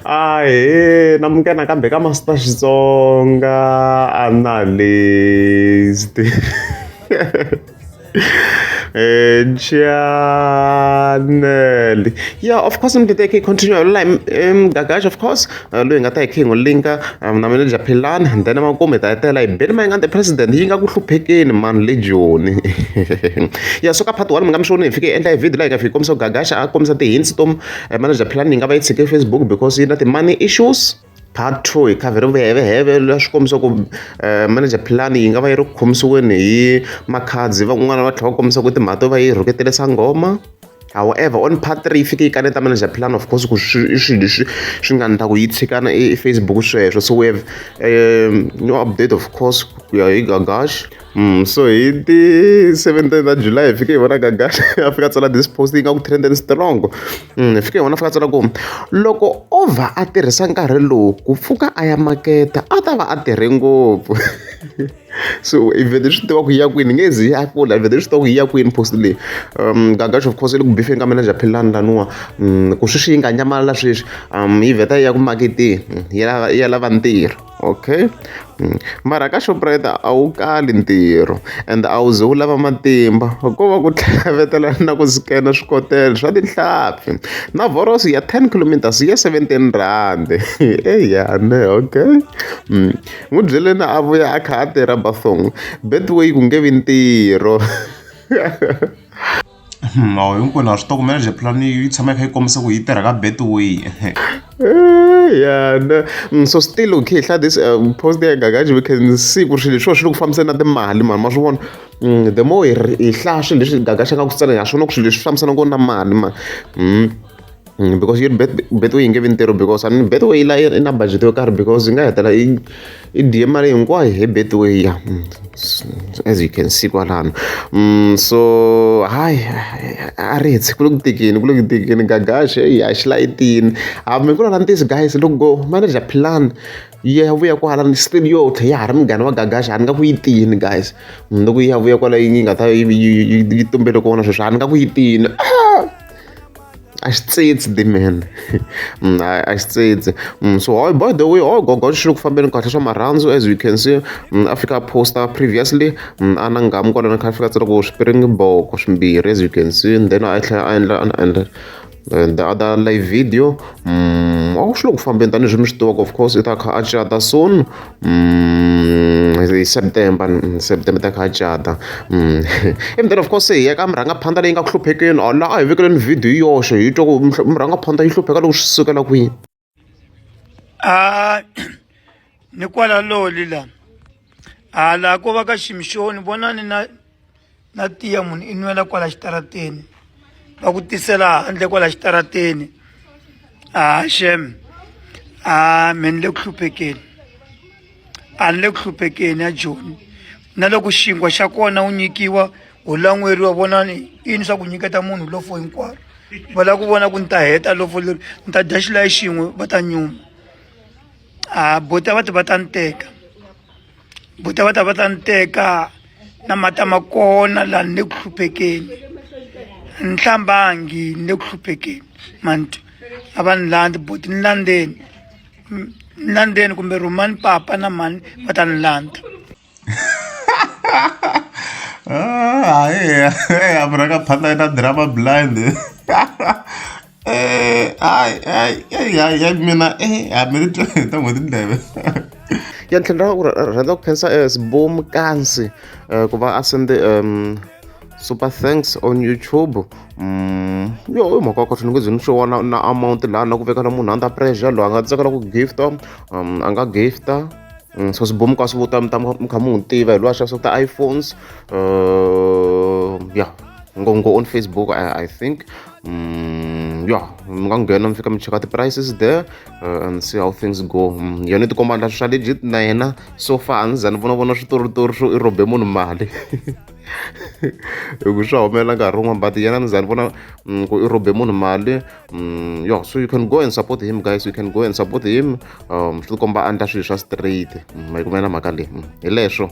Ahee na muka nakambe ka Master Xitsonga a na list chanel yeah of course mdede yakhe continue la mgagashi of course uh, loyi nga ta hi khe hi n'wi linka um, na manager philani and then makume hi ta hetela hi beni ma nga the president yi nga ku hluphekeni mani le joni ya so ka part one mi nga mi xoni hi fike endla hi video la hi ka fike kombisa ku gagasha a kombisa ti-hints to eh, manager plan yi nga va yi tshike facebook because yi na ti-money issues part two hi khavheri vuyeveheve la swi kombisa ku eh, manager plan yi nga va yi ri khomisiweni hi makhadzi van'wana va tlhela va kombisa ku timhaka to va yi rhuketele sangoma however on part three yi fike yi kaneta manager plan of course ku i swilo leswi swi nga ndla ku yi tshikana efacebook sweswo so we have um, new update of course ku ya hi gagash Mm, so hi ti 17 ta july hi fike hi vona gagani a fika a tsala this post yi nga ku trend and strong mm, hi fike hi vona a fika a tsala ku loko o va a tirhisa nkarhi lowu ku pfuka a ya maketa a ta va a tirhe ngopfu so i vhele swi tiva ku yi ya kwini nge zi ya kula i vhele swi tiva ku yi ya kwini post leyi um gagaxo of course i le ku bifeni ka manager philani laniwa mm, ku sweswi yi nga nyamalala sweswi um yi vheta yi ya ku maketeni yi ya lava ntirho Okay mara ka Shoprite a wu kali ntirho ende a wu ze wu lava matimba ko va ku tlhavetela na ku scan swikotela swa tihlampfi na vhoroso ya ten kilometers yi ya seventeen rhandi eya ne okay n'wi byele na a vuya a kha a tirha Betway ku nge vi ntirho. mhawu hinkwenu ha swi tokomela je plan yi tshama yi kha yi kombisa ku yi tirha ka betway ya na mm, so still u khe hla this um, post ya gagaji we can see ku ri swilo leswiwa swi le ku fambisana na timali mani ma swi vona mm, the more hi hlaya swilo leswi gagaxa nga ku tsala ha swona ku swilo leswi fambisana ngona na mali mani mm. Mm, because yet bet betway yi nge vi ntirho because a ni betway la i na budget yo karhi because yi nga hetela i i diye mali hinkwayo hi betway ya mm, as you can see kwalano mm, so hayi a ri hetsi ku le ku tekeni ku le ku tekeni gagaxe yi haxilayitini hambi ku lala ntisi guys loko go manager plan yi ya vuya kwala ni still yo tlhe ya ha ri munghana wa gagaxa a ni nga ku yi tini guys loko yi ya vuya kwala yi nga ta yi tumbele kona sweswo a ni nga ku yi tini ah! a xi tsitsi dimene mm, a xi tsitsi mm, so oh, by the way o oh, gogo xi ri ku fambeni kahle swa marhandzu as you can see mm, a fika poster previously a na ngamu kwalana kha fika tsira ku swipiring boko swimbirhi as you can see and then a tlhela a endla a endla eh, the other live video a ku swi le ku fambeni tanihileswi mi swi tivaka of course i ta kha a cata soon hi september september ta kha cata ivi then of course se hi ya ka murhangaphandza leyi nga ku hluphekeni or laha a hi vekeleni video hi yoxe hi twa ku murhangaphandza yi hlupheka loko swi sukela kwini a ni kwalaloli la hala ko va ka ximixoni vonani na na tiya munhu i nwela kwala xitarateni va ku tisela handle kwala xitarateni a shem a me ni le ku hluphekeni a ni le ku hluphekeni ya joni na loko xinkwa xa kona u nyikiwa u lan'weriwa vonani ini swa ku nyiketa munhu lofo hinkwaro va lava ku vona ku ni ta heta lofo leri ni ta dya xilayi xin'we va ta nyuma a bota va ti va ta ni teka buta va ta va ta ni teka na mata ma kona laha ni le ku hluphekeni ni hlambangi ni le ku hluphekeni mantu a va ni landzi buti ni landzeni ni landzeni kumbe rhumani papa na mhani va ta ni landza ah, hayi hayi a vuraka phata yi ta drama blind hayi hayi hayi hayi hayi mina eh a mi ti twa ta n'hweti ndleve ya tlhela ra ku rhandza ku khensa eh, sboom kansi eh, ku va a sende um super thanks on youtube mm, yo i mhaka kahle ni nge ze ni swi vona na amount laha na ku vekela munhu under pressure loyi a nga tsakela ku gifta um, a nga gifta mm, so swibomo ka swi vuta mi ta mi kha mi n'wi tiva hi lowa xavisa ku ta iphones uh, ya ngongo on facebook I, i think Mm, yeah mi nga nghena mi fika mi cheka ti-prices there uh, and see how things go mm, yona tikomba na swa legit na yena so far a ni za ni vona vona switoritori swo i rhobe munhu mali hikuva swa humelela nkarhi wun'wana but yena ni za ni vona mm, ku i rhobe munhu mali mm, yo so you can go and support him guys you can go and support him um swi tikomba a endla swilo swa straight mm, ma yi kumela mhaka leyi hi leswo